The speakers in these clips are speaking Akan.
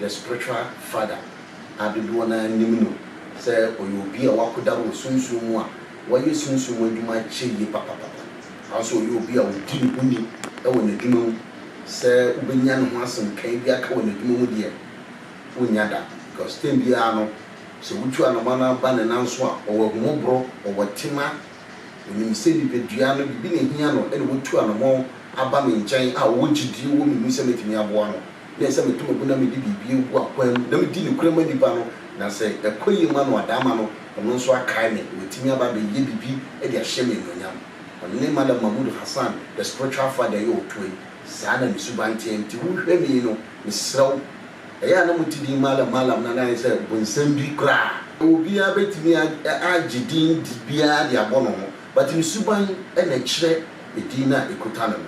The Spiritual Father a dodoɔ no ara nim no sɛ ɔyɛ obi a wakoda wɔ sunsum mu a wayɛ sunsum mu adwuma akyɛ yie papapapa. Saa ara nso ɔyɛ obi a ɔdi ne ho ni wɔ n'adwuma mu. Sɛ wobɛnya ne ho asɛm kae bi aka wɔ n'adwuma mu deɛ, wonnya da because time biara no sɛ wotu anoma no aba ne nan so a, ɔwɔ ahummɔborɔ, ɔwɔ tema, ɔnim sɛ nipadua no biribi na ɛhia no ɛna watu anoma aba me nkyɛn a ɔwɔ gyedie wɔ me mu sɛ mɛtumi aboa no. Ebia sɛ meto mako na mede biribi agu akwan mu na medi nokorɛ ma nipa no, na sɛ ɛkɔ yie ma no a, daama no, ɔno nso akae me, watumi aba abɛyɛ biribi de ahyɛ me anuonyam. Ɔne Malam Mahmood Hassan, The Spiritual Father yi a ɔtoa yi, saa na ne suban teɛ. Enti wohwɛ me yi no, mesrɛ wo, ɛyɛ a na mote din Malam Malam no anaa? Ayɛ sɛ bonsam bi koraa. Obiara bɛtumi agye din biara de abɔ ne ho, but ne suban na ɛkyerɛ edin no a ɛkuta no no.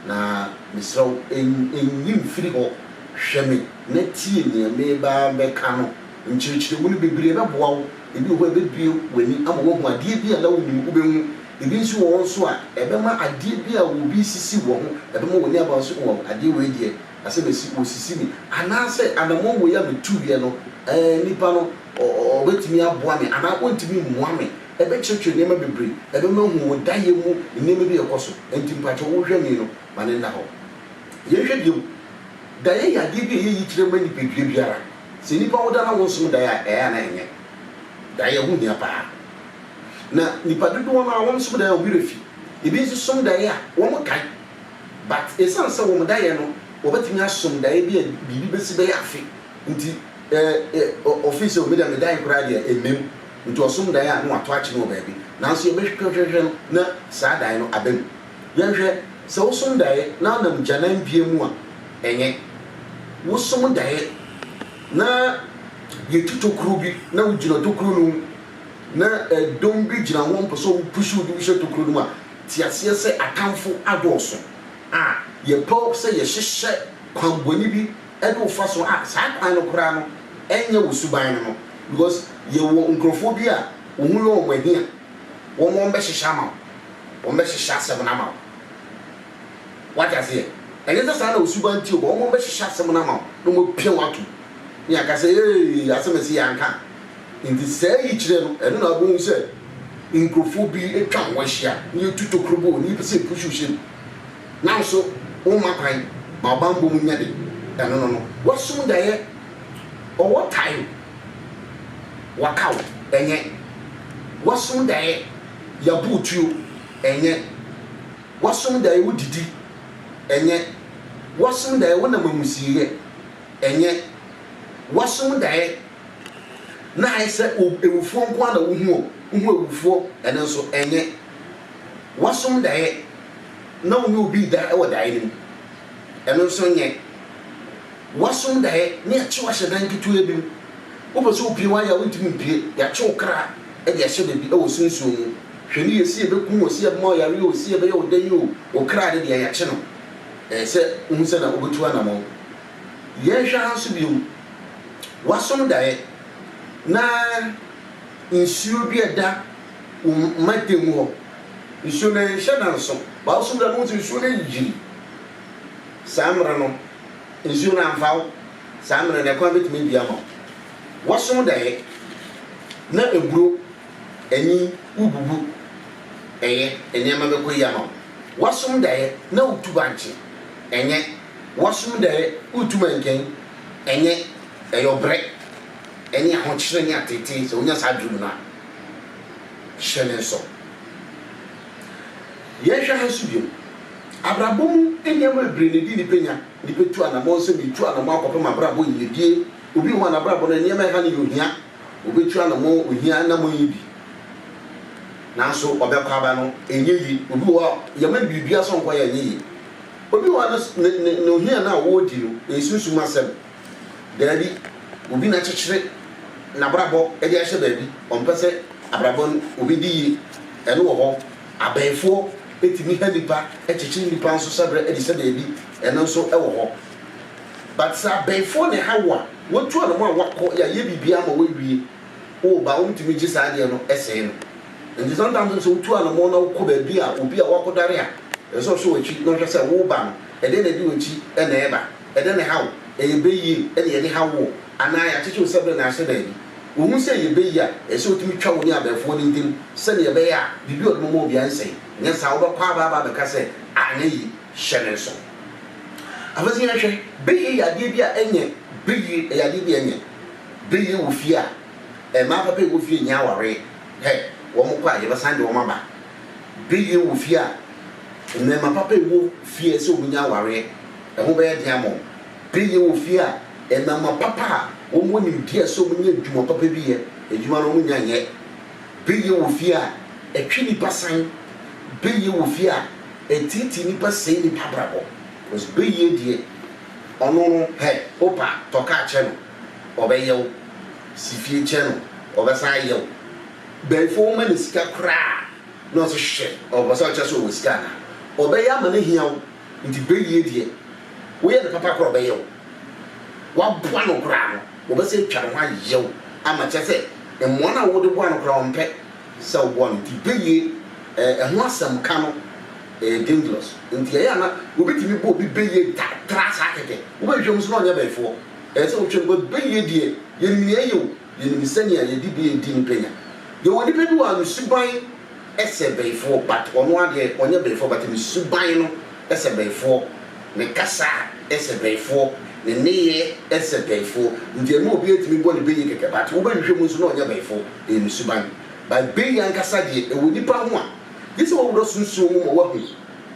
Na mesrɛ wo, nyi mfiri hɔ. Hwɛ me na tie nea mereba abɛka no. Nkyerɛkyerɛmu no bebree bɛboa wo. Ebi wɔ hɔ a, ɛbɛbue w'ani ama woahu adeɛ bi a na wonnim, wobɛhu. Ebi nso wɔ hɔ nso a, ɛbɛma adeɛ bi a obi resisi wɔ ho, ɛbɛma w'ani aba nso, oh, adeɛ wei deɛ, asɛm a ɛsi, wɔresisi me. Anaasɛ anammɔn wei a metuiɛ no, eh, nnipa no, ɔ, ɔ, ɔbɛtumi aboa me anaa ɔntumi mmoa me. Ɛbɛkyerɛkyerɛ nneɛma bebree. Ɛno na ɔhu wo dayɛ mu nneɛma bi a ɛkɔ so. Ɛnti mpakyɛw wo hwɛni no ma no nna hɔ. Yɛn hwɛ bio. Dayɛ yɛ adeɛ bi a ɛyɛ yikyerɛ ma nipadua biara. Sɛ nnipa wo da na wo nsom dayɛ a, ɛyɛ a na ɛnyɛ. Dayɛ ho hia paa. Na nipa dodoɔ no a wɔn som dayɛ wɔn werɛ fi. Ebi nso som dayɛ a wɔn kae. But ɛsiane sɛ wɔn dayɛ no wɔbɛtumi asom dayɛ bi a biribi bɛsi bɛyɛ afe nti, ɛ, ɛ, ɔ, ɔfeel sɛ o me deɛ me dayɛ koraa deɛ ɛmmam. Nti ɔsom dae a na wɔato akyene wɔ baabi, nanso yɛbɛhwehwɛhwehwɛ no na saa dae no aba mu. Yɛnhwɛ, sɛ wosom dae na wonam gyanan bia mu a, ɛnyɛ. Wosom dae na yɛtu tokuro bi na wogyina tokuro no mu na dɔm bi gyina hɔ mpɛ sɛ ɔmo push wo de wo hyɛ tokuro no mu a, te aseɛ sɛ atamfo adɔɔso a yɛpɛ sɛ yɛhyehyɛ kwanbɔne bi ɛne wo fa so a saa kwan no koraa no ɛnyɛ wo suban no no because yɛwɔ nkurɔfoɔ bi a wo ho yɛ wɔn ahia wɔn wɔn bɛhyehyɛ ama wo wɔn bɛhyehyɛ asɛm no ama wo wate aseɛ ɛnyɛ sɛ saa na wo suban nti o but wɔn wɔn bɛhyehyɛ asɛm no ama wo na wɔn apia wo atom ne yɛaka sɛ ee asɛm ɛsi yɛ anka nti saa yi kyerɛ no ɛno na wobɛhu sɛ nkurɔfoɔ bi atwa ho ahyia ne yɛtu tokuro bɔ wɔn ani pɛ sɛ ɛpuhyi wo hyɛ mu. Nanso womma kwan ma ɔbammɔ mu nya de ɛno no no. Wasum daeɛ, ɔwɔ tae Wakaw, ɛnyɛ. Wasum daeɛ, Yabu wo tuo, ɛnyɛ. Wasum daeɛ, Wodidi, ɛnyɛ. Wasum daeɛ, Wonam amusieeɛ, ɛnyɛ. Wasum daeɛ, Na ayɛ sɛ awufoɔ nko ara na wohu ɔ, wohu awufoɔ, ɛno nso, ɛnyɛ. Wasum daeɛ. na wo ne obi reda wɔ daeɛ no mu. Ɛno nso nyɛ. Woasom daeɛ na yɛakye wo ahyɛ dan ketewaa bi mu. Wopɛ sɛ wopue woayɛ a wontumi mpue. Yɛakye wo kra de ahyɛ baabi wɔ sunsum mu. Hwɛ no yie sɛ yɛbɛku wo, sɛ yɛbɛma wo yareɛ o, sɛ yɛbɛyɛ wo dɛn o, wo kra no deɛ yɛakye no. Ɛyɛ sɛ wohu sɛ na wobɛtu anammɔn. Yɛnhwɛ ha nso bio. Woasom daeɛ na nsuo bi reda. wo mmateam hɔ. Nsuo no nhyɛ da nso. Bible so berɛ no wohu sɛ nsuo no yiri. Saa mmerɛ no, nsuo no amfa wo. Saa mmerɛ no, ɛkwan bɛtumi abue ama wo. Woasom daeɛ na aburo, anyin, wobubu, ɛyɛ, nneɛma bɛkɔ yie ama wo. Woasom daeɛ na wotu bankye, ɛnyɛ. Woasom daeɛ wotu mankani, ɛnyɛ. Ɛyɛ ɔbrɛ ne ahokyerɛ ne ateetee sɛ wonya saa aduro no a. hyɛ ne nso. Yɛnhwɛ ha nso bio. Abrabɔ mu nneɛma bebree na edi nnipa nya. Nnipa tu anammɔn sɛ meretu anammɔn akɔpem abrabɔ yiyedie. Obi wɔ hɔ a n'abrabɔ no nneɛma a ɛha no yɛ ohia. Ɔbɛtu anammɔn ohia anammɔn yi bi. Nanso ɔbɛkɔ aba no ɛnyɛ yie. Obi wɔ hɔ a yɛma no biribiara sɛ ɔnkɔyɛ a ɛnyɛ yie. Obi wɔ hɔ a ne ne ne ohia no a ɔredi no ɛyɛ sunsum asɛm. Daabi, obi na akyekyere n'abrabɔ de ahyɛ baabi, ɔmpɛ sɛ abrabɔ no obedi yie, ɛno wɔ hɔ. Abɛɛfoɔ tumi ha nnipa, kyekyere nnipa nso hyɛbrɛ de hyɛ baabi, ɛno nso wɔ hɔ. But sɛ abɛɛfoɔ na ɛha wo a, watu anamɔ a wakɔ, yɛayɛ biribiara ama wawie, woba a wɔntumi gye saa adeɛ no sɛe no. Nti sometimes nso sɛ wotu anamɔ na wokɔ baabi a obi a wakɔdware a, ɛsɛ sɛ ɔhwɛ w'akyi na ɔhwɛ sɛ woba no, ɛdeɛn na ɛde w'akyi na ɛreba. Ɛdɛ na ɛhaw? Ɛyɛ bɛ yie na yɛde haw woɔ? Anaa yɛakyekye wo sɛberɛ na ahyɛ daabi? Wohu sɛ ɛyɛ bɛ yie a, ɛsɛ sɛ wotumi twa wo ne abɛɛfoɔ no ntam sɛdeɛ ɛbɛyɛ a biribi a wɔde bɛma wo biara rensɛe. Nyɛ saa a, wobɛkɔ aba aba abɛka sɛ, anyɛ yie, hyɛ me nso. Afei nso yɛnhwɛ, bɛ yie yɛ adeɛ bi a ɛnyɛ bɛ yie, ɛyɛ adeɛ bi a ɛnyɛ bɛ yie wɔ fie a mmaa papa a ɛwɔ fie nnya awareɛ. Hɛ, wɔkɔ a, yɛbɛsan de wɔn aba. Bere yɛ wɔ fie a mmarima papa wɔ fie a ɛsɛ sɛ wɔnya awareɛ, ɛho bɛyɛ den ama wɔn. Bere yɛ wɔ fie a mmarima papa a wɔwɔ nimdeɛ a ɛsɛ sɛ wɔnya adwuma papa bi yɛ, adwuma no wɔnnya nyɛ. Bere yɛ wɔ fie a ɛtwe nnipa san. Bere yɛ wɔ fie a ɛtiatia nnipa sɛe nnipa abrabɔ. Because bere yɛ deɛ, ɔno no, hɛ, wopa a, tɔ kaa kyerɛ no, ɔbɛyɛ wo. Si fie kyerɛ no, ɔbɛsan ayɛ wo. Bɛnfo woma no sika koraa na ɔse hwɛ ɔpɛ sɛ ɔkyerɛ sɛ ɔwɔ sika anaa? Ɔbɛyɛ ama no ahia wo nti bɛwie deɛ woyɛ no papa koraa ɔbɛyɛ wo. Woaboa no koraa no ɔbɛsan atwa ne ho ayɛ wo ama kyerɛ sɛ mmoa no a wode boa no koraa ɔmpɛ sɛ woboa no nti bɛwie ɛho asɛm ka no ɛyɛ dangerous nti ɛyɛ a na wobɛtumi bɔ obi bɛwie da tra saa kɛkɛ wobɛhwehwɛ mu nso na ɔnyɛ bɛnfoɔ ɛyɛ sɛ wotwɛn bɛwie deɛ yɛnim nea ɛyɛ o. Yɛnim sɛnea yɛde bi redi no pɛ nya. Yɛwɔ nipa bi wɔ ha ne suban sɛ bɛyifoɔ but ɔno ara deɛ ɔnyɛ bɛyifoɔ but ne suban no sɛ bɛyifoɔ, ne kasa sɛ bɛyifoɔ, ne nneyɛɛ sɛ bɛyifoɔ nti ɛma obi atumi bɔ ne bɛyi kɛkɛ but wobɛhwehwɛ mu nso na ɔnyɛ bɛyifoɔ, ɛyɛ ne suban. But bɛyi ankasa deɛ ɛwɔ nipa ho a gyesɛ wawura sunsum mu ma wahu.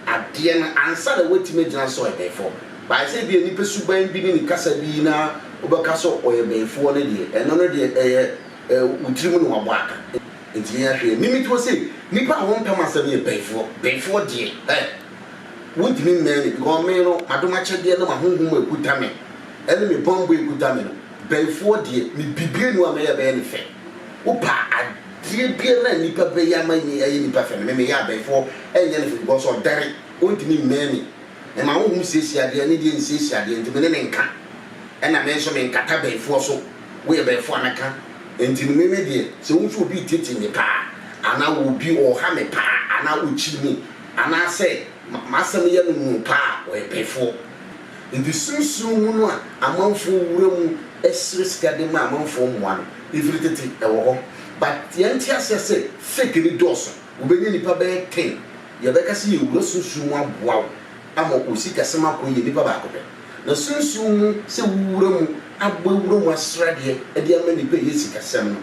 adeɛ no ansa na woatumi agyina sɛ ɔyɛ bɛyifoɔ. But ayɛ sɛ ebia nipa suban bi ne ne kasa bi na wobɛka sɛ ɔyɛ bɛyifoɔ no deɛ, ɛno no deɛ ɛyɛ wo tiri mu na wabɔ aka. Enti yɛn ahwɛ yɛn mimitiwɔ sɛ nipa a wɔmpɛ mo asɛm no yɛ bɛyifoɔ. Bɛyifoɔ deɛ ɛ! Wontumi mmɛn no because me no m'adomakyɛdeɛ ne m'ahonhom a ɛkuta me ne me bammɔ a ɛkuta me no, bɛyifoɔ deɛ mebibire no a mɛyɛ bɛyɛ no fɛ. Wopɛ a, Deɛ biara a nnipa bɛyɛ ama me ayɛ nnipa fɛ no, me meyɛ abɛɛfoɔ nyɛ no fɛ because ɔdɛre, ɔntumi mmɛn me. Mema honhom siesie adeɛ, ne deɛ nsiesie adeɛ nti, me ne no nka. Ɛna me nso menkata bɛɛfoɔ so, woyɛ bɛɛfoɔ a mɛka. Nti no me me deɛ, sɛ wohu sɛ obi retete me paa, anaa obi ɔreha me paa, anaa ɔkyiri me, anaasɛ m'asɛm yɛ no nwunu paa a, ɔyɛ bɛɛfoɔ. Enti sunsum mu no a amanfoɔ wura mu srɛ sika de ma amanfoɔ mmoa no, ɛfiri tete ɛwɔ hɔ. But yɛnte aseɛ sɛ fake no dɔɔso. Wobɛnya nnipa bɛyɛ ten, yɛbɛka sɛ yɛwura sunsum mu aboa wo ama wo sikasɛm akɔ yie, nnipa baako pɛ. Na sunsum mu sɛ wowura mu abɔ awura mu asradeɛ de ama nnipa ɛyɛ sikasɛm no,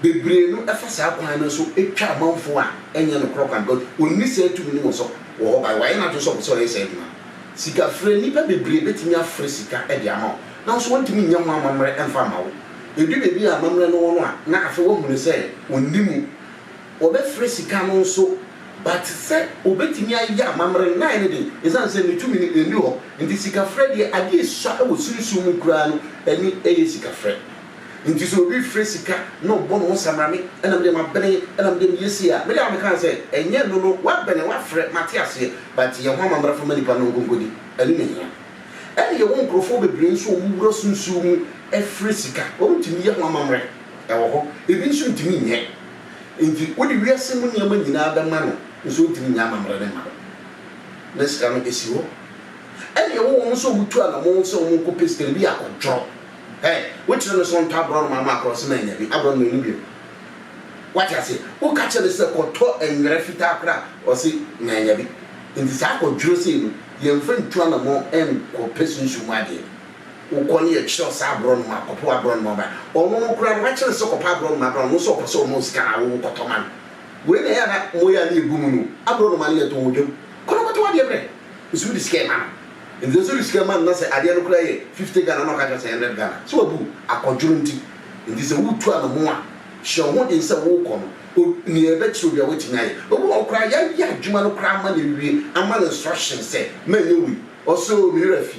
bebree no fa saa kwan no so twa amanfoɔ a ɛnyɛ nokorɛ kwan because wɔnni saa tumi no wɔ sɛ wɔ hɔ but wayɛ n'adwene sɛ ɔpɛ sɛ ɔyɛ saa adwuma no. Sikafrɛ, Nnipa bebree betumi afrɛ sika de ama wo, nanso wɔrentumi nyɛ ho amammerɛ mfa mma wo. Edu baabi a amammerɛ no wɔ no a, na afei wɔahu no sɛ onni mu. Wɔbɛfrɛ sika no nso, but sɛ obetumi ayɛ amammerɛ no, na ayɛ no den. Esiane sɛ ne tumi no nni hɔ nti, sikafrɛ deɛ, adeɛ a esua wɔ sunsum mu koraa no, ɛne ɛyɛ sikafrɛ. Enti sɛ obi frɛ sika na ɔbɔ ne ho samrane na me deɛ mabene na me deɛ meyɛ sei a, me deɛ a mekae sɛ, ɛnyɛ ɛno no, woabene, woafrɛ, mate aseɛ, but yɛ ho amammerɛ fa ma nnipa no nkonkodi, ɛno na ɛhia. Ɛne yɛwɔ nkurɔfoɔ bebree nso a wɔwura so nsuo mu frɛ sika, wɔntumi nyɛ ho amammerɛ, ɛwɔ hɔ, ebi nso ntumi nyɛ, enti wode wiase mu nneɛma nyinaa bɛma no nso ɔntumi nyɛ amammerɛ no mma no, na sika no si hɔ. Ɛne yɛwɔ wɔn nso a wɔtu anamɔn sɛ wɔnkɔpɛ sika no, ebi yɛ akɔdworɔ. Ɛ, wokyerɛ no sɛ ɔntɔ aborɔnoma ma akorɔsem annya bi, aborɔnoma nni bio. Woate aseɛ? Woka kyerɛ no sɛ kɔtɔ nwera fitaa koraa a, ɔse mannya bi. Nti saa kwadworɔ sei no, yɛmfa ntu anammɔn nkɔpɛ sunsum mu adeɛ. Wokɔ ne yɛkyerɛ wo saa aborɔnoma a, kɔpɛ w'aborɔnoma bra. Ɔno no koraa no, woakyerɛ no sɛ kɔpɛ aborɔnoma bra, ɔno nso ɔpɛ sɛ ɔma wo sika anaa wowo kɔtɔ ma no. Wei na ɛyɛ a na mmoyaa no yɛ gu mu no o, aborɔnoma no yɛtɔn wɔ dwam. Kɔ na kɔtɔ w'adeɛ brɛ. Nso wode sika rema no. Nti sɛ wode sika rema no na sɛ adeɛ no koraa yɛ fifty Ghana na ɔka kyerɛ wo sɛ hundred Ghana, sɛ wabu wo akɔdworo nti. Nti sɛ woretu anamo a, hyɛ wo ho den sɛ worekɔ no, o, nea ɛbɛkyerɛ obiara woatumi ayɛ. Obi wɔ hɔ koraa a, yɛayɛ adwuma no koraa ama no awie, ama no instructions sɛ, Manyɛ wei. Ɔse, O, me werɛ afi.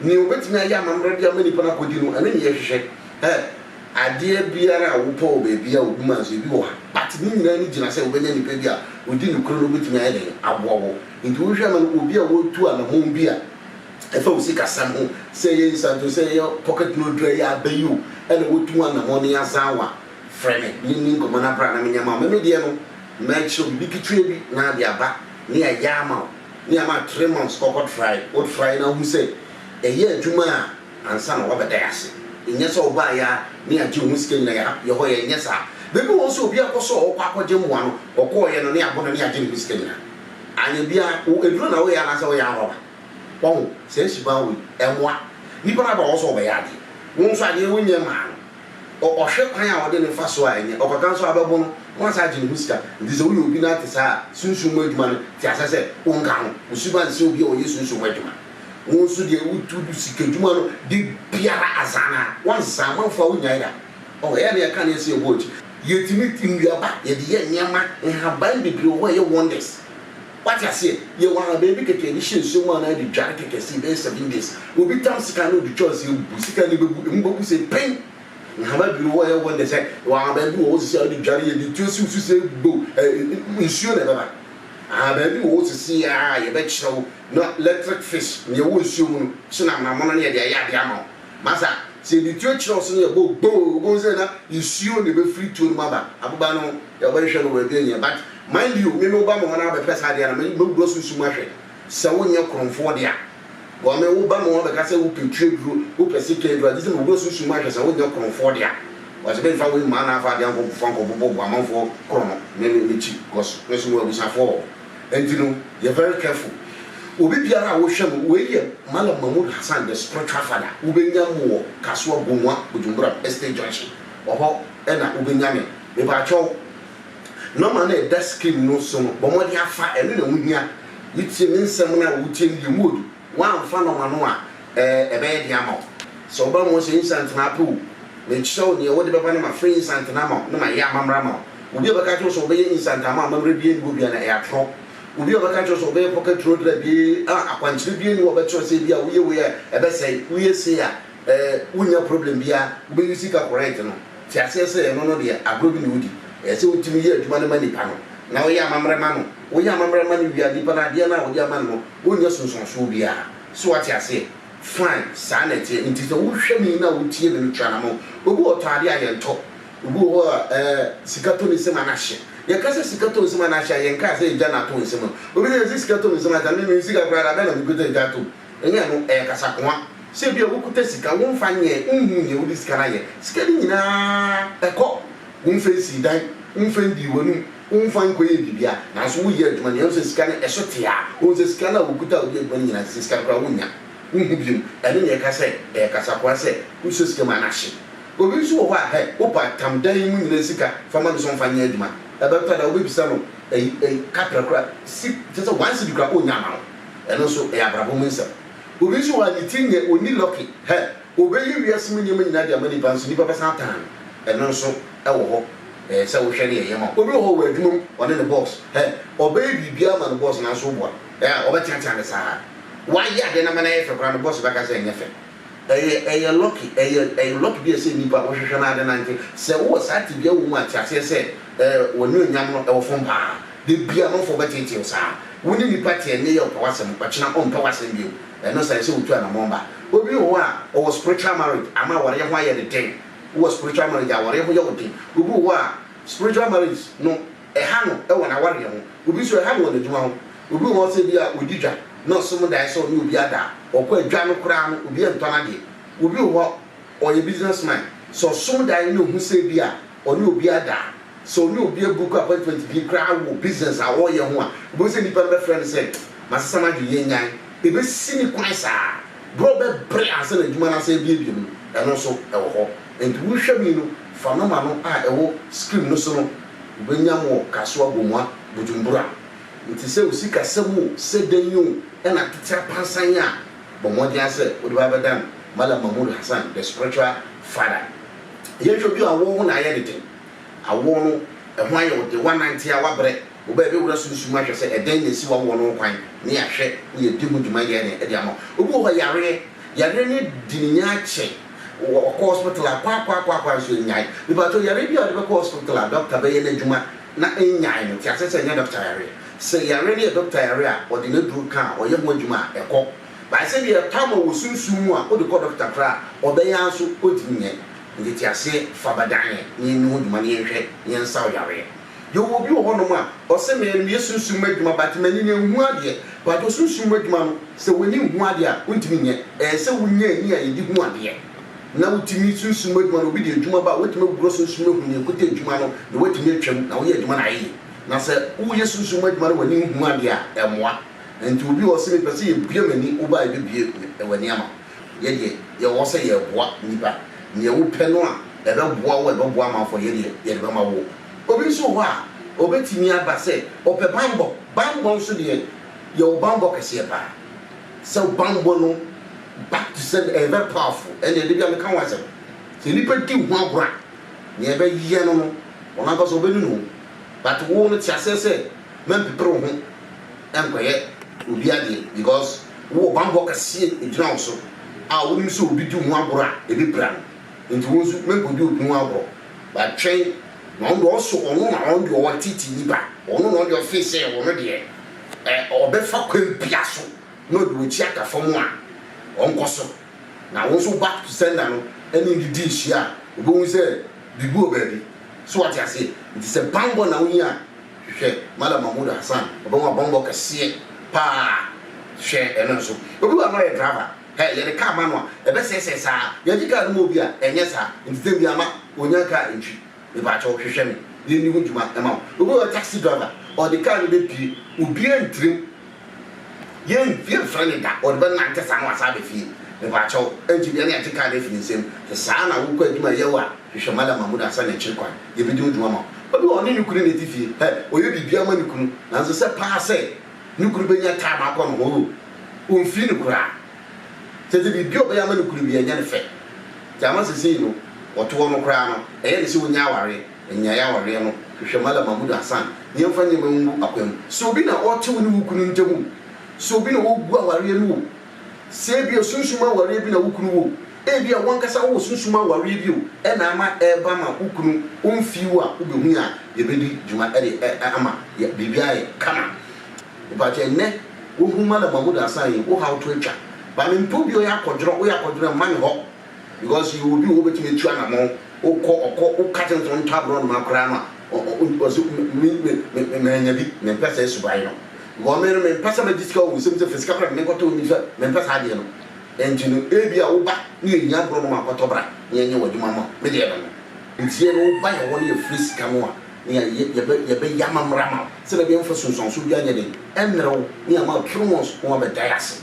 Nea obetumi ayɛ amammerɛ de ama nnipa no akodi no, ɛno ne yɛhwehwɛ. Ɛ! Adeɛ biara a wopɛ wɔ baabi a obi ma nso, ebi wɔ ha. But ne nyinaa ani gyina sɛ wobɛnya nipa bi a odi nokorɛ na obetumi ayɛ dɛn? Aboa wo. Enti wohwɛ ma no obi a watu anamɔn bi a ɛfa wo sikasɛm ho, sɛ ɛyɛ nsanto, sɛ ɛyɛ pocket note dura yi a aba yi o, ɛna watu anamɔn no yazan wo a, frɛ me na yɛnni nkɔmmɔ na bra na menyɛ mma wo. Me me deɛ no, mɛkyerɛ wo biribi ketewa bi na de aba na yɛayɛ ama wo. Ne ama three months kɔkɔ trae wo trae na wohu sɛ ɛyɛ adwuma a ansa na wabɛda yɛ ase nyɛ sɛ wobaa yɛ a ne agye wo ho sika nyina yɛ hap yɛ hɔ yɛ nyɛ saa bɛ bi wɔ hɔ nso obi akɔ sɛ ɔɔkɔ akɔ gye mmoa no ɔkɔɔ yɛ no ne abo no ne agye ne ho sika nyina anyɛ bia wo aduro na wo yɛ anaasɛ wo yɛ arɔba wahu saa suban wei ɛmmoa nipa no aba wɔ hɔ sɛ ɔbɛyɛ adeɛ wo nso adeɛ wo nyɛ mmaa no. Ɔ ɔhwɛ kwan a ɔde no mfa so a ɛnyɛ ɔkwata nso a bɛbo no na wasan agye ne ho sika. Enti sɛ woyɛ obi na ate saa a, sunsum mu adwuma no, te aseɛ sɛ wonka ho. Wo suban nsɛ obi a ɔyɛ sunsum mu adwuma. Wo nso deɛ wo tu du sika adwuma no de biara azan na wonsa amanfoɔ a wonyae da. Ɔ ɛyɛ a na yɛka neɛ sɛ yɛbɔ akyi. Yɛtumi tu nnuaba, yɛde yɛ nneɛma, nhaban bebree wɔ hɔ a ɛyɛ wonders. Wate aseɛ? Yɛwɔ ahaban bi kɛkɛ, yɛde hyɛ nsuo mu anaa yɛde dware kɛkɛ sei bɛyɛ seven days. Obi tam sika na ɔde twa nsuo mu bu, sika no bɛbu, ɛmu bɛku sei pen. Nhama bi wɔ hɔ a ɛyɛ wonders, ɛ, wɔ ahaban bi wɔ hɔ sisi a wode dware yɛde tuo siw so sei bow, ɛ, nsuo na ɛbɛba. Ahaban bi wɔ hɔ sisi a yɛbɛkyerɛ wo na electric fish, nea ɛwɔ nsuo mu no, hyɛ no amonamono na yɛde ayɛ adeɛ ama wo. Masa, sɛ yɛde tuo kyerɛ wo so na yɛbɔ boo, wobɛhu sɛ na nsuo na ɛbɛfiri tuo no mu aba, aboba no ho. Yɛbɛhwehwɛ no baabi anyɛ but mind you me me ba me hɔ na abɛpɛ saa adeɛ a na me me wura susu mu ahwɛ sɛ wo nyɛ korɔnfoɔ dea because me wo ba me hɔ abɛka sɛ wo pɛ tire duro wo pɛ sika aduro agye sɛ me wura susu mu ahwɛ sɛ wo nyɛ korɔnfoɔ dea because me nfa wei mmaa na afa adeɛ ankɔ fa ankɔ bobɔ bo amanfoɔ korɔ no me me me kyi because me nso me wɔ abusuafoɔ wɔ hɔ ɛnti no yɛ very careful obi biara a wo hwɛ no wei yɛ Malam Mahmood Hassan the spiritual father wo bɛ nya mo wɔ Kasoa Bonwa Bujumbura estate junction wɔ hɔ ɛna wo bɛ nya me. Mepakyɛw, nɔma no a ɛda screen no so no, bɔ mmɔden afa, ɛno na ɛho hia. Wotie me nsɛm no a, wotie no deɛ mu odu. Woamfa nɔma no a, ɛɛ, ɛbɛyɛ den ama wo. Sɛ woba mu hɔ sɛ instant na apɛ o, mekyerɛ wo deɛ wode bɛba na mafrɛ instant no ama wo na mayɛ amammerɛ ama wo. Obi a ɔbɛka akyerɛ wo sɛ ɔbɛyɛ instant ama wo amammerɛ biara nni hɔ biara no, ɛyɛ atorɔ. Obi a ɔbɛka akyerɛ wo sɛ ɔbɛyɛ pocket road drive ee, ah, akwankyerɛ biara nni hɔ a ɔbɛkyerɛ wo sɛ ebia woyɛ wei a, ɛbɛsɛe. Woyɛ sei a. Ɛɛ wonnya problem biaa wobɛyi sika correct no te aseɛ sɛ ɛno no deɛ agorɔ bi na wodi ɛyɛ sɛ wotumi yɛ adwuma no ma nipa no na woyɛ amammerɛ ma no woyɛ amammerɛ ma no wie a nipa no adeɛ no a wode ama no no wonnya sunsuansoɔ biaa so wate aseɛ fine saa na ɛteɛ nti sɛ wohwɛ me yi na wotie me no tu anamɔn obi wɔ hɔ ɔtɔ adeɛ a yɛntɔ obi wɔ hɔ a ɛɛ sika tɔ ne nsam a na ahye yɛka sɛ sika tɔ nsam a na ahye a yɛnkaa sɛ agya na atɔ nsam a obi sɛ yɛse sika tɔ me nsam a agya me menni sika koraa da bɛn na mekuta agya atom Ɛnyɛ ɛno, ɛyɛ kasakoa. Sɛ ebia wokuta sika, womfa nyɛ, wonhu nea wode sika no ayɛ. Sika no nyinaa kɔ. Womfa nsii dan, womfa ndii w'anom, womfa nkɔyɛɛ biribiara. Nanso woyɛ adwuma no, yɛahu sɛ sika no ɛso te aa. Wohu sɛ sika no a wokuta a wode yɛ adwuma no nyinaa, sɛ sika no koraa a, wonnya. Wonhu biom. Ɛno na yɛka sɛ ɛyɛ kasakoa sɛ wosɔ sika mu a na ahye. Obi nso wɔ hɔ a, hɛ, wopɛ atam dan yi mu nyinaa sika, fa ma no sɛ ɔmfa nyɛ adwuma. Ɛbɛtɔ da a wobɛbisa no, ɛyi, ɛyi, kaprɛ koraa, si, kyerɛ sɛ one cedi koraa, onnya mma wo. Ɛno nso ɛyɛ abrabɔ mu nsɛm. Obi nso wɔ ha ne tiri nyɛ, ɔnni lɔke. Hɛ! Ɔbɛyi wiase mu nneɛma nyinaa de ama nnipa nso nnipa bɛsan atan no. Ɛno nso wɔ hɔ. Ɛyɛ sɛ wohwɛ ne yɛyɛ ma wo. Obi wɔ hɔ wɔ adwuma mu, ɔne ne bɔs. Hɛ! Ɔbɛyɛ biribiara ama ne bɔs nanso woboa. Hɛ! Ɔbɛteatea no saa ara. Wayɛ adeɛ no ama no ayɛ fɛ koraa no, bɔs bɛka sɛ ɛnyɛ fɛ. Ɛyɛ ɛyɛ lɔki ɛyɛ ɛyɛ lɔki bi a ɛsɛ nnipa a wɔhwehwɛ no ara de nante. Sɛ wowɔ saa tebea wɔ mu a, te aseɛ sɛ ɛɛ w'anuonyam no ɛwɔ fam pa ara. Da biara amanfoɔ bɛteetee wo saa. Wo ne nnipa te ɛnnɛ yi a ɔpɛ w'asɛm, ɔkyena ɔmpɛ w'asɛm bio. Ɛno saa ɛsɛ wotu anamɔn ba. Obi wɔ hɔ a ɔwɔ spiritual marriage ama awareɛ ho ayɛ no den. Wowɔ spiritual marriage a awareɛ ho yɛ wo den. Obi wɔ hɔ a spiritual marriage no. Ɛha no wɔ n'awareɛ ho. Obi nso ɛha no wɔ n'adwuma ho. Obi wɔ hɔ sɛ bi a ɔdi dwa na ɔsom daeɛ sɛ ɔne obi ada a, ɔkɔ a dwa no koraa no obi ntɔ n'adeɛ. Obi wɔ hɔ ɔyɛ business man, sɛ ɔsom daeɛ na ɔhu sɛ bi a ɔne obi ada a, sɛ ɔne obi abuku appointment bi koraa wɔ business a ɔreyɛ ho a, ɔbɛhu sɛ nipa no bɛfrɛ no sɛ masesa m'adwene yɛnnyae. Ɛbɛsi ne kwan saa berɛ a ɔbɛbrɛ ansa na adwuma no asan abuebue no, ɛno nso ɛwɔ hɔ. Enti wo hwɛ mi no fa nom ano a ɛwɔ screen no so no wobɛnya mo kasoa gomua bujumbura nti sɛ osi kasam o sɛ dɛn o ɛna tete apansan a bɔ mmɔdea sɛ wode bɛ abɛdan malam mahmood hassan the spiritual father yɛn hwɛ bi awɔɔ ho na ayɛ ne den awɔɔ no ɛho ayɛ wo den woanante a woabrɛ wo bɛ ɛbɛ wura sunsum ahwɛ sɛ ɛdɛn na ɛsi wawɔɔ no ho kwan ne yɛahwɛ ne yɛadi ho dwuma yɛ dɛn ɛde ama wo obi wɔ hɔ yareɛ yareɛ no adi ne nya akyɛ Wɔ ɔkɔ hospital a kwaakwaakwaakwa nso ennyae. Mepakyɛw, yare bi a ɔde bɛkɔ hospital a dɔkta bɛyɛ n'adwuma na ennyae no, te ase sɛ ɛnyɛ dɔkta yare. Sɛ yare no yɛ dɔkta yare a, ɔde n'aduru ka a, ɔyɛ ho adwuma a, ɛkɔ. Bae sɛ deɛ ɛtɔ ama wɔ sunsum mu a wode kɔ dɔkta koraa a, ɔbɛyɛ ara nso ɔntumi nyɛ. Nteteaseɛ, fa ba dan yɛn na yɛnni ho dwuma na yɛnhwɛ na yɛnsaw yareɛ. Yɛwɔ obi wɔ hɔnom a ɔse me no meyɛ sunsum mu adwuma but m'ani no ɛnhu adeɛ. Mpakyɛw sunsum mu adwuma no sɛ w'ani nhu adeɛ a wontumi nyɛ. Ɛsɛ wonya ani a yɛde hu adeɛ na wotumi sunsum mu adwuma no obi de adwuma ba a woatumi agugorɔ sunsum mu ahu nea ɛkuta adwuma no na woatumi atwam na woyɛ adwuma no ayɛ yie. Na sɛ woyɛ sunsum mu adwuma na w'ani nhu adeɛ a ɛmmoa. Ɛnti obi a ɔse mepɛ sɛ yɛbue m'ani wo ba a yɛbɛbue w'ani ama wo. Yɛ deɛ yɛwɔ sɛ yɛreboa nnipa, nea wopɛ no a ɛbɛboa wo a ɛbɛboa amanfoɔ a yɛ deɛ yɛde bɛma wo. Obi nso wɔ hɔ a ɔbɛtumi aba sɛ ɔpɛ banbɔ, banbɔ nso deɛ yɛwɔ banbɔ kɛseɛ paa, sɛ wo banbɔ no back to send ɛyɛ very powerful, ɛnneɛ da bi a meka ho asɛm, sɛ nnipa di wo ho agorɔ a, nea ɛbɛyɛ no no wɔn ankasa wɔbɛnunu wo, but wo no te aseɛ sɛ Mɛmpeper wo ho nnkɔyɛ obi adeɛ because wowɔ bammɔ kɛseɛ ɛgyina wo so a wonim sɛ obi di wo ho agorɔ a ɛbɛpira no nti wo nso mɛnkɔdi obi ho agorɔ but twɛn na ɔno deɛ ɔso ɔno na ɔno deɛ ɔwɔ titi nipa ɔno na ɔno deɛ ɔfee sɛ ɔno deɛ ɛ ɔbɛfa kwan bia so na ɔde w'akyi aka fam a ɔnkɔ so na wo nso back to sender no ɛne no didi nhyia a wobɛhu sɛ biribi wɔ baabi so wate aseɛ nti sɛ bammɔ na wohia a Hwehwɛ Mallam Mahmood Hassan ɔbɛhu abɔmbɔ kɛseɛ paa hwɛ ɛno nso obi wɔ a na ɔyɛ driver hɛ yɛde car ma no a ɛbɛsɛesɛe saa yɛgye car no ma obi a ɛnyɛ saa nti dɛn biaa ma ɔnya car ntwi mepakyɛw hwehwɛ me yɛnni ho dwuma ɛma wo obi wɔ taxi driver ɔde car no bɛpie obiaa ntirim Yɛnfie mfrɛ no da, ɔde bɛnante saa na wasan aba fie. Mepakyɛw, ɛnte biara na yɛagye kaa no afi ne nsam. Sɛ saa na wokɔ adwuma yɛ o a, hwehwɛ Mallam Mahmood ansa na akyiri kwan, yɛbedi wo dwuma ma wo. Obi wɔ hɔ, ɔne ne kunu na ɛte fie. Hɛ! Ɔyɛ biribiara ma ne kunu, nanso sɛ paa sɛ ne kunu bɛnya time akɔ ne ho o, ɔmfii no koraa. Kyerɛ sɛ biribiara a ɔbɛyɛ ama ne kunu biara, ɛnyɛ no fɛ. Gyama seesei no, ɔtoɔ no koraa no, ɛyɛ no sɛ ɔnnya awareɛ. Nnyae awareɛ no, hwehwɛ Malam Mahmood Hassan na yɛmfa nneɛma ngu akwan mu. Sɛ obi na ɔte wo ne wo kunu ntam o, sɛ obi na ɔgu awareɛ no o, sɛ ebia sunsum awareɛ bi na wo kunu wɔ o, ebia w'ankasa wowɔ sunsum awareɛ bi o, ɛna ama ɛreba ma wo kunu ɔmfii wo a, wobɛhu yɛn a yɛbɛdi dwuma de ama biribi ayɛ kama. Mepakyɛ ɛnnɛ wohu Malam Mahmood Hassan yi, wo haw to atwa. Baa mempɛ obi a ɔyɛ akɔdworɔ, woyɛ akɔdworɔ a mma me hɔ. Because yɛwɔ obi wɔ hɔ obetumi atu anamɔn, wokɔ ɔkɔ woka kyerɛ no sɛ ɔntɔ aborɔnoma koraa no a, ɔ ɔ ɔse me me me mannya bi, mempɛ saa suban no. Because me no mempɛ sɛ mɛgye sika wɔ wo nsam sɛ fa sika bra na menkɔtɔ wo nnifa, mempɛ saa adeɛ no. Enti no ebia wo ba na yɛhia aborɔnoma a kɔtɔ bra na yɛnyɛ wo adwuma ma wo, me deɛ ɛno no. Enti yɛn no wo ba yɛn hɔ na yɛfrɛ sika no a na yɛayɛ yɛbɛ yɛbɛyɛ amammerɛ ama wo sɛdeɛ ɛbɛyɛ mfa sunsuansoɔ biara nyɛ dɛn ɛmmrɛ wo na yɛama wo true ones na woabɛdae ase.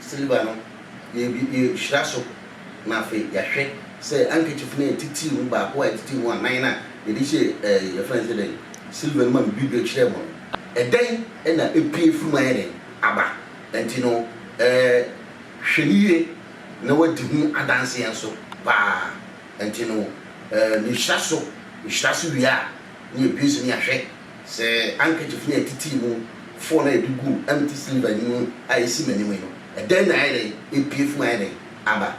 Siliva no, yɛrehyira so, na afei yɛahwɛ sɛ handkerchief no a ɛtitiw mu baako a ɛtitiw mu anan no a yɛde hyɛɛ ɛɛ yɛfrɛ no sɛ dɛn, siliva no mu a mebibire kyerɛɛ mo no, ɛdɛn na epue firi mu ayɛ dɛn aba. Enti no, ɛɛ hwɛ no yie na woadi ho adanseɛ nso paa. Enti no, ɛɛ mehyira so, mehyira so wie a, ne abue so ne ahwɛ sɛ ankakyif ne atitii mu foɔ no a yɛde guu empty cylinder no mu a ɛsi m'anim yi no, ɛdɛn na ayɛ dɛn apue fi mu ayɛ dɛn aba.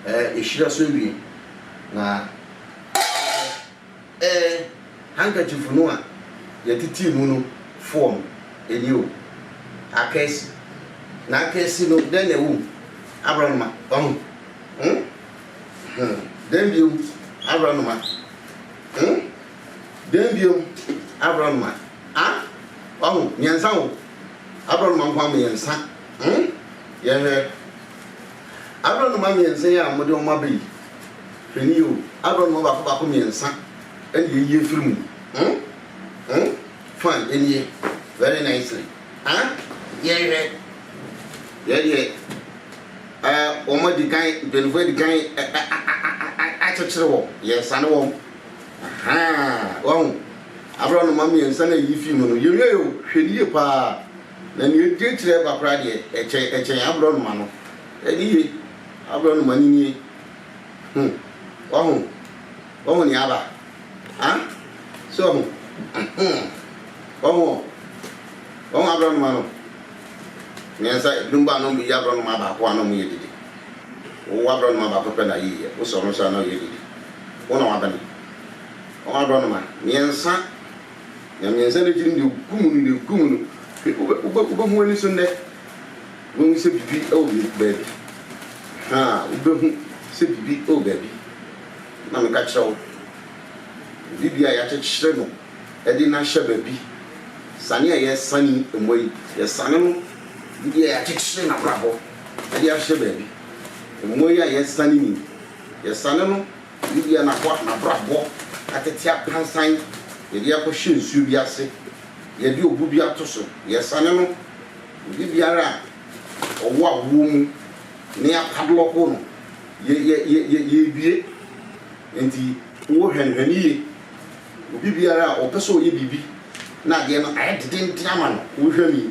Ɛɛ, yɛhyira so awie, na. Ɛɛ, handkerchief no a yɛtetee mu no fɔɔm ani o, akaasi. Na akaasi no, dɛn na ɛwɔ mu? Aborɔnoma, wahu? Hmm? Hmm. Dɛn bio? Aborɔnoma. Hmm? Dɛn bio? Aborɔnoma. Ah? Wahu? Mmiɛnsa o. Aborɔnoma nko ara mu mmiɛnsa. Hmm? Yɛnhwɛ. Aborɔnoma mmiɛnsa yi a mode wɔn aba yi, hwɛ no yie o, aborɔnoma baako baako mmiɛnsa na yɛyi afiri mu. Hmm? Hmm? Fine, ɛnie. Very nicely. Ah? Yɛhwɛ. Yɛ deɛ, eh, wɔn adi kan, mpanimfoɔ adi kan eh, eh, ah, ah, ah, ah, ah, akyekyere wɔn. Yɛsane wɔn. Ahaa, wahu. Aborɔnoma mmiɛnsa na yɛyi fii mu no, yɛnwie o, hwɛ no yie paa. Na nea edi akyiri a ɛba koraa deɛ, ɛkyɛn, ɛkyɛn aborɔnoma no. Ɛde ye, aborɔnoma no nie. Ho, wahu? Wahu nea aba? Ha? So wahu? Ahem. Wahu ɔ? Wahu aborɔnoma no? Mmiɛnsa, ebinom bɔ anom beyi aborɔnoma baako a na wɔyɛ dede. Wowɔ aborɔnoma baako pɛ na yiiɛ, wosɔ no nso a na ɔyɛ dede. Wo na wabene. Wahu aborɔnoma mmiɛnsa. Na mmiɛnsa no akyi no, deɛ ɔgu mu no, deɛ ɔgu mu no, wobɛhu ani so nnɛ. Wobɛhu sɛ biribi wɔ baabi. Ha, wobɛhu sɛ biribi wɔ baabi. Na meka kyerɛ wo, obi bi a yɛakyekyere no de no ahyɛ baabi, sane a yɛresane mmoa yi, yɛsane no, obi bi a yɛakyekyere n'abrabɔ de ahyɛ baabi. Mmoa yi a yɛresane ni, yɛsane no. Ne bia n'ahoa, n'abrabɔ, atete apansan, yɛde akɔhyɛ nsuo bi ase, yɛde obu bi ato so, yɛsane no, obi biara a ɔwɔ awoɔ mu na yɛapadlɔko no, yɛ, yɛ, yɛ, yɛ, yɛrebue. Enti, wo hwɛnhwɛn yie. Obi biara a ɔpɛ sɛ ɔyɛ biribi na adeɛ no ayɛ dedenden ama no, wo hwɛ mi.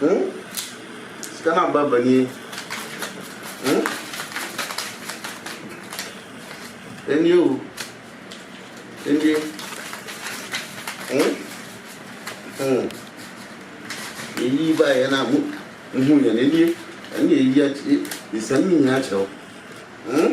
Huh? Sika na ba ba nie. Huh? Ɛnie o. Ɛnie. Huh? Hmm. Ɛyi ba yɛ na mu mu hu yɛn ɛnie. Ɛnie ɛyi akyire. Ɛsɛm nyinaa kyerɛ o. Hmm?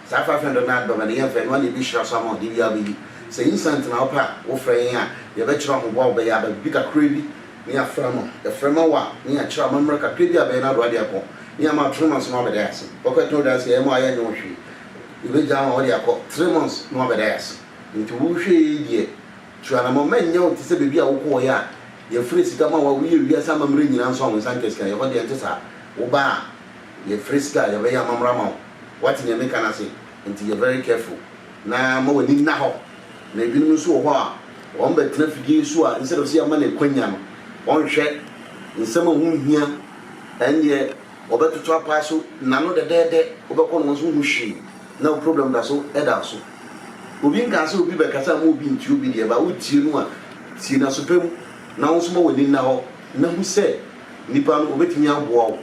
Saa five hundred no adɔba no yɛnfɛ no a na ebi hyira so ama wo de biaa bɛyi sɛ instant na wopɛ a wofrɛ yɛn a yɛbɛkyerɛ wo mmoa a wobɛyɛ aba biribi kakra bi na yɛafrɛ no yɛfrɛ ma wo a na yɛakyerɛ amammerɛ kakra bi a bɛyɛ no adoa de akɔ na yɛama wo three months na woabɛda yɛ ase wokɔ ɛtɔn dansi a yɛma wo a yɛnyɛ wo hwee yɛbɛgyaa wo a wode akɔ three months na woabɛda yɛ ase nti wo nhwɛ yɛ yi deɛ tu anamɔ mma nnyɛ wo te sɛ baabi a wokɔɔeɛ a yɛfrɛ sika ma wo a woyɛ wiase amammerɛ nyinaa nso a wo nsa nka sika yɛhɔ deɛ ɛnte saa wobaa a yɛfrɛ sika a yɛbɛyɛ amammerɛ ama wo. Wate nea meka no ase? Enti yɛ very careful na ma w'ani nna hɔ. Na ebinom nso wɔ hɔ a, wɔbɛtena afidie yi so a, instead of sɛ yɛma no akwanya no, wɔnhwɛ nsɛm a ɛho nhia, ɛnneɛ wɔbɛtoto apaa so n'ano dɛdɛɛdɛ, wobɛkɔ no wɔn nso wohu hwee, na wo problem da so da wo so. Obi nkaa sɛ obi bɛkasa mma obi ntie obi deɛ, but wotie no a, tie no aso pa mu, na wo nso ma w'ani nna hɔ na hu sɛ nipa no ɔbɛtumi aboa wo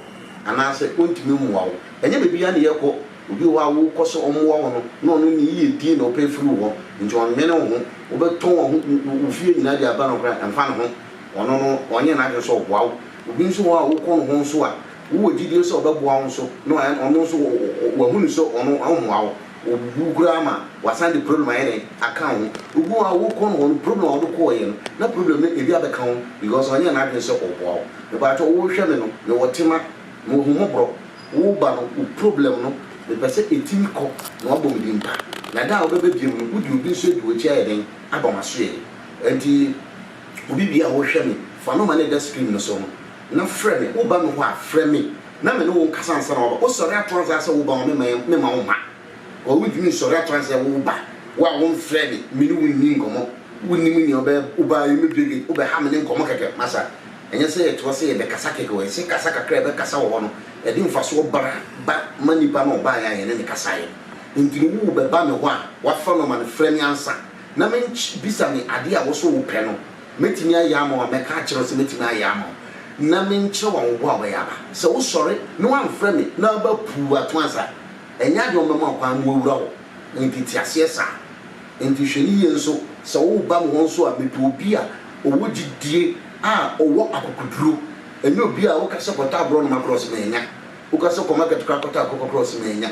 anaasɛ ɔntumi mmoa wo. Ɛnyɛ baabiara na yɛkɔ, obi wɔ hɔ a wokɔ sɛ ɔmmoa wo no, na ɔno ne yiyedie na ɔpɛ firi wo hɔ, nti ɔnnwene wo ho. Wobɛtɔn waho wo fie nyinaa de aba no koraa a, ɛmfa ne ho. Ɔno no, ɔnyɛɛ n'adwene sɛ ɔboa wo. Obi nso wɔ hɔ a wokɔ ne hɔ nso a, wowɔ gyidie sɛ ɔbɛboa wo nso, na ɔno nso wahunu sɛ ɔno ɔmmoa wo, ɔbubu wo koraa ma wasan de problem ayɛ dɛn, aka wo ho. Obi wɔ hɔ a wokɔ ne hɔ no, problem a wode kɔeɛ no, na problem no ebi abɛka wo ho, because ɔnyɛɛ n'adwene sɛ ɔboa wo. Mepaatwɔ, wohwɛ me no, mewɔ tema. Wɔ hu mɔbrɔ wo ba no wo problem no me pɛ sɛ ɛtimi kɔ na wabɔ me din pa na da a wobɛba biom no wo de obi nso adi wakyi ayɛ dɛn aba masoɛɛ ɛnti obi biaa a wo hwɛ me fa nɔma no ɛda screen no so no na frɛ me wo ba me hɔ a frɛ me na me ne wo nkasa ansa na waba wo sɔre ato ansa sɛ wo ba ma me ma wo ma. Ɔɔ wontumi sɔre ato ansa wo wo ba, wo a womfrɛɛ me, me ne wo nni nkɔmmɔ, wonnim nea ɔbɛyɛ, wobaa yi womɛdua gate, wobɛha me ne nkɔmmɔ kɛkɛ, masa, ɛnyɛ sɛ yɛtoa sɛ yɛbɛkasa kɛkɛ o, ɛsɛ kasa kakra a yɛbɛkasa wɔ hɔ no, ɛde mfasoɔ bra ba ma nipa no a ɔbaeɛ a yɛne no kasaeɛ no. Enti no wo bɛba me hɔ a, woafrɛ no ama no frɛ me ansa na menkye, bisa me adeɛ a wo so wopɛ no, mɛtumi ayɛ ama wo a, mɛka akyerɛ wo sɛ mɛtumi ayɛ ama wo na menkyerɛ wo awoboa a wobɛyɛ aba. Sɛ wosɔre na woamfrɛ me na woaba puu ato ansa. Ɛnyɛ ade a wɔbɛma kwan ma wɔawura wo wo nteteaseɛ saa. Enti hwɛ no yie nso sɛ woreba me hɔ nso a, mepɛ obi a ɔwɔ gyidie a ɔwɔ akokoduro. Ɛnyɛ obi a woka sɛ kɔtɔ aborɔnoma korɔ ɔse manya, woka sɛ kɔ market koraa kɔtɔ akokɔ korɔ ɔse manya.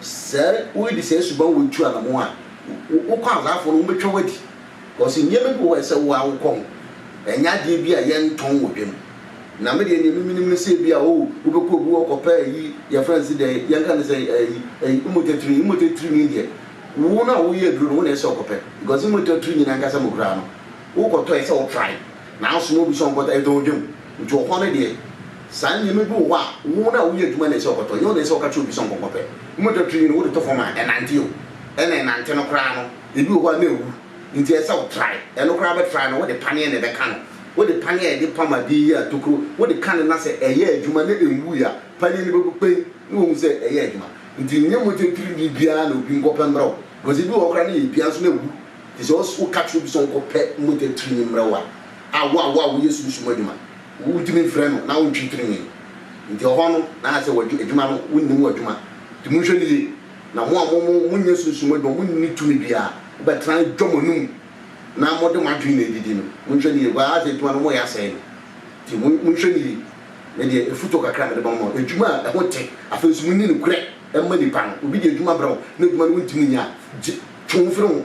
Sɛ woredi saa suban wei tu anamɔn a, wo kwansaafoɔ no wɔbɛtwa wo adi. Ɔse nneɛma bi wɔ hɔ a ɛsɛ wo ara wokɔ ho, ɛnyɛ adeɛ bi a yɛntɔn wɔ dwam. Na me deɛ nea me menim ne sɛ ebi a oh wobɛkɔ obi hɔ kɔpɛ ayi yɛfrɛ no se dɛn yɛnka no sɛ ayi ayi mmotatirinyi mmotatirinyi deɛ wo no a woyɛ aduro no wo na ɛsɛ sɛ ɔkɔpɛ because mmotatirinyi no ankasa mu koraa no wokɔtɔ ɛsɛ sɛ wo try na asoma obi sɛ ɔnkɔtɔ ɛtɔn wɔ dwam nti wɔ hɔ no deɛ saa nneɛma bi wɔ hɔ a wo no a woyɛ adwuma na ɛsɛ sɛ ɔkɔtɔ ɛnyɛ wo na ɛsɛ sɛ ɔka kyerɛ obi sɛ ɔnkɔnkɔpɛ mmotatirinyi no wode to fam a ɛnante o ɛna ɛnante no koraa no Ebi wɔ hɔ a na awu nti ɛsɛ sɛ wotrae. Ɛno koraa bɛtrae no, wode paneɛ na ɛbɛka no. Wode paneɛ a yɛde pam adeɛ yi a tokuro wode ka no na sɛ ɛyɛ adwuma na ɛnwui a, paneɛ no bɛbu kpɛn na woahu sɛ ɛyɛ adwuma. Nti nyɛ mogya tirimii biara na obi nkɔpɛ mmrɛ wo because ebi wɔ hɔ koraa na ɛyɛ dua nso na awu. Nti sɛ woka kyerɛ obi sɛ ɔnkɔpɛ mogya tirimii mmrɛ wo a, a wo a wo a woyɛ sunsum adwuma, wotumi mfrɛ no na wontwe tirimii. Nti ɛhɔ no na ayɛ sɛ w'adwuma no wonnim w'adwuma. Nti monhwɛ no yie. Na mo a mo mo mo nyɛ sunsum adwuma, mo nni tumi biara, mo bɛ tena dwa mo anum, na mo de mo adwene na ɛdidi no, mo nhwɛ no yie, bɛ ara sɛ adwuma no mo yɛ asɛe no, nti mo mo nhwɛ no yie, me deɛ afutuo kakra a me de bɛma mo, adwuma a ɛho te, afei nso mo nni nokorɛ mma nnipa no, obi de adwuma brɛ wo na adwuma no wo ntumi nyɛ a, gye, twe wo firi ho,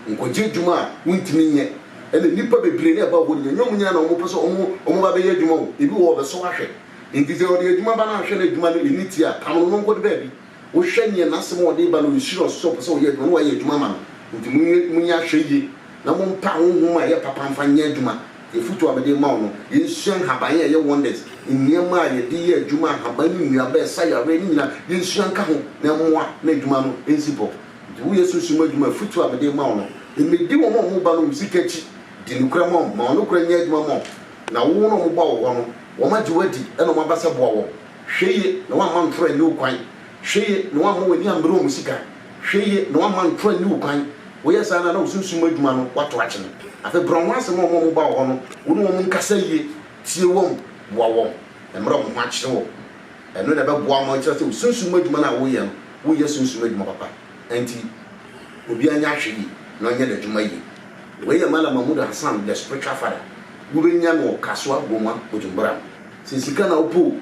nkɔ gye adwuma a wo ntumi nyɛ, ɛna nnipa bebree na ɛba hɔ nyina, ɛnyɛ wɔn nyina na wɔn pɛ sɛ wɔn wɔn ba bɛyɛ adwuma o, ebi wɔ hɔ wɔbɛsɔ ahwɛ, nti sɛ ɔde adwuma ba na ahwɛ na adwuma no ɛnni tie a, pam no na ɔnkɔ de baabi. Wohwɛ nea n'asɛm a ɔde reba no, ɔrehyira ɔsoro sɛ ɔpɛ sɛ ɔyɛ adwuma na wayɛ adwuma ama no. Enti monyɛ monyɛ ahwɛyie na mompa honhom a ɛyɛ papa mfa nyɛ adwuma. Deɛ afotuo a mede rema wo no, yɛnsua nhaban a ɛyɛ wonders, nneɛma a yɛde yɛ adwuma, nhaban ne nnuaba a ɛsa yareɛ, ne nyinaa yɛnsua nka ho na ɛmmoa na adwuma no nsi bɔ. Enti woyɛ sunsum adwuma a, afotuo a mede rema wo no, mmɛdi wɔn a wɔba nom sika akyi. Di nokorɛ ma wɔn, ma wɔn nokorɛ nyɛ adwuma ma wɔn. Na wo na wɔba wo hɔ no, wɔagye wo adi na wɔaba sɛ boa wɔn. Hwɛ yie na woamma ntoro anni wo kwan. Hwɛ yie na woamma w'ani ammere wɔn sika. Hwɛ yie na woamma ntoro anni wo kwan. Woyɛ saa no a, na wo sunsum mu adwuma no, woato akyene. Afei brɛ wɔn ase ma wɔn a wɔba wo hɔ no, wo ne wɔn nkasa yie, tie wɔn, boa wɔn, mmrɛ wɔn ho akyere wɔn. Ɛno na ɛbɛboa ma wɔakyerɛ sɛ wo sunsum mu adwuma no a woreyɛ no, woreyɛ sunsum adwuma papa. Enti obiara nyɛ ahwɛyie na ɔnyɛ n'adwuma yie. Wei yɛ Malam Mahmood Hassan, The Spiritual Father. Wobɛnya no wɔ Kasuar Goma, Bujumbura no. Sɛ sika na wopɛ o,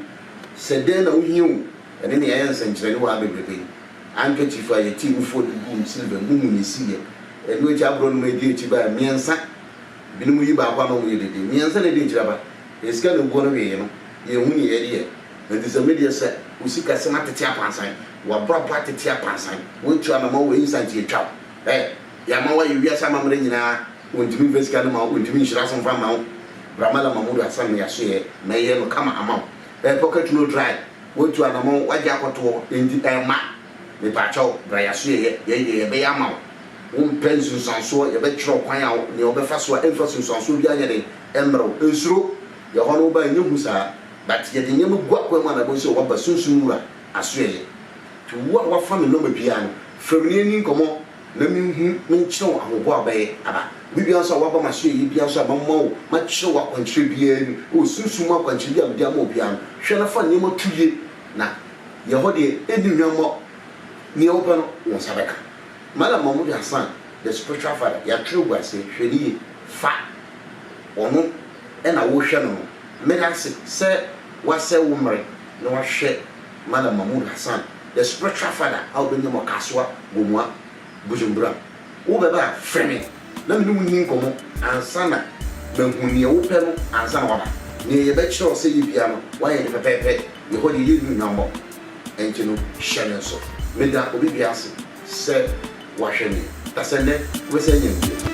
sɛ dɛn na wohia o, ɛne nea ɛyɛ nsɛnkyerɛnne wɔ ha bebrebe yi, handkerchief a yɛtee mu fua de guu me silver mu mu na esiiɛ. Ɛno akyi aborɔnoma a edi akyi bae mmiɛnsa. Binom yi baako a na wɔyɛ dede. Mmiɛnsa na edi akyiri aba. Yɛn sika na eguan wee no, yɛanhu nea yɛde yɛ. Enti sɛ me deɛ sɛ wo sikasɛm atete apansan, w'abrabɔ atete apansan, woatu anamɔn wɔ instant yɛatwa wo. Ɛ! Yɛama woayɛ wiase amammerɛ nyinaa. Wɔntumi mfa sika no mma wo, wɔntumi nhyira so mfa mma wo, bra Mallam Mahmood Hassan no yɛasoɛ, mɛyɛ no kama ama wo, ɛɛ pocket no dry, woatu anamɔn, woagye akɔtoɔ, enti ɛmma, mepaakyɛ wo, bra yɛasoɛ yɛ, yɛyi deɛ yɛbɛyɛ ama wo, wompɛ nsunsuansoɔ, yɛbɛkyerɛ wo kwan a wo, nea wobɛfa so a ɛmfa sunsuansoɔ biara nyɛ den mmrɛ wo, nsuro, yɛ hɔ no woba a ɛnyɛ hu saa, but yɛde nneɛma gu akwan mu a na ɛbɛhu sɛ woaba Sunsum Wura asoɛyɛ, nti wo a woafa me nɔma biara no, frɛ me na yɛnni nkɔmmɔ. na menhu menkyerɛ wo ahoboa a wobɛyɛ aba. Bere biara nso a woaba m'asoɛyie biara nso a mɛma wo, mɛkyerɛ wo akwankyerɛ biara mu, wɔ sunsum mu akwankyerɛ bi a mede ama wo biara no, hwɛ na fa nneɛma to yie, na yɛ hɔ deɛ ɛnni hwammɔ, deɛ wopɛ no wo nsa bɛka. Malam Mahmoud Hassan, the spiritual father, yɛatwerɛ agu aseɛ, hwɛ no yie, fa ɔno na worehwɛ no no, meda ase sɛ woasɛe wo mmerɛ na woahwɛ Malam Mahmoud Hassan. The spiritual father a wobɛnya mu Ɔkasoa Gomoah Bujumbura. Wobɛba a, frɛ me na me ne wo nni nkɔmmɔ ansa na mahu deɛ wopɛ no ansa na woaba. Deɛ yɛbɛkyerɛ wo sɛ yɛ biara no, woayɛ no pɛpɛɛpɛ. Yɛ hɔ deɛ, yɛnni hwammɔ, ɛnti no hyɛ no nso. Meda obi biara ase sɛ wahwɛ me, na sɛ nnɛ wobɛsan anya me bio.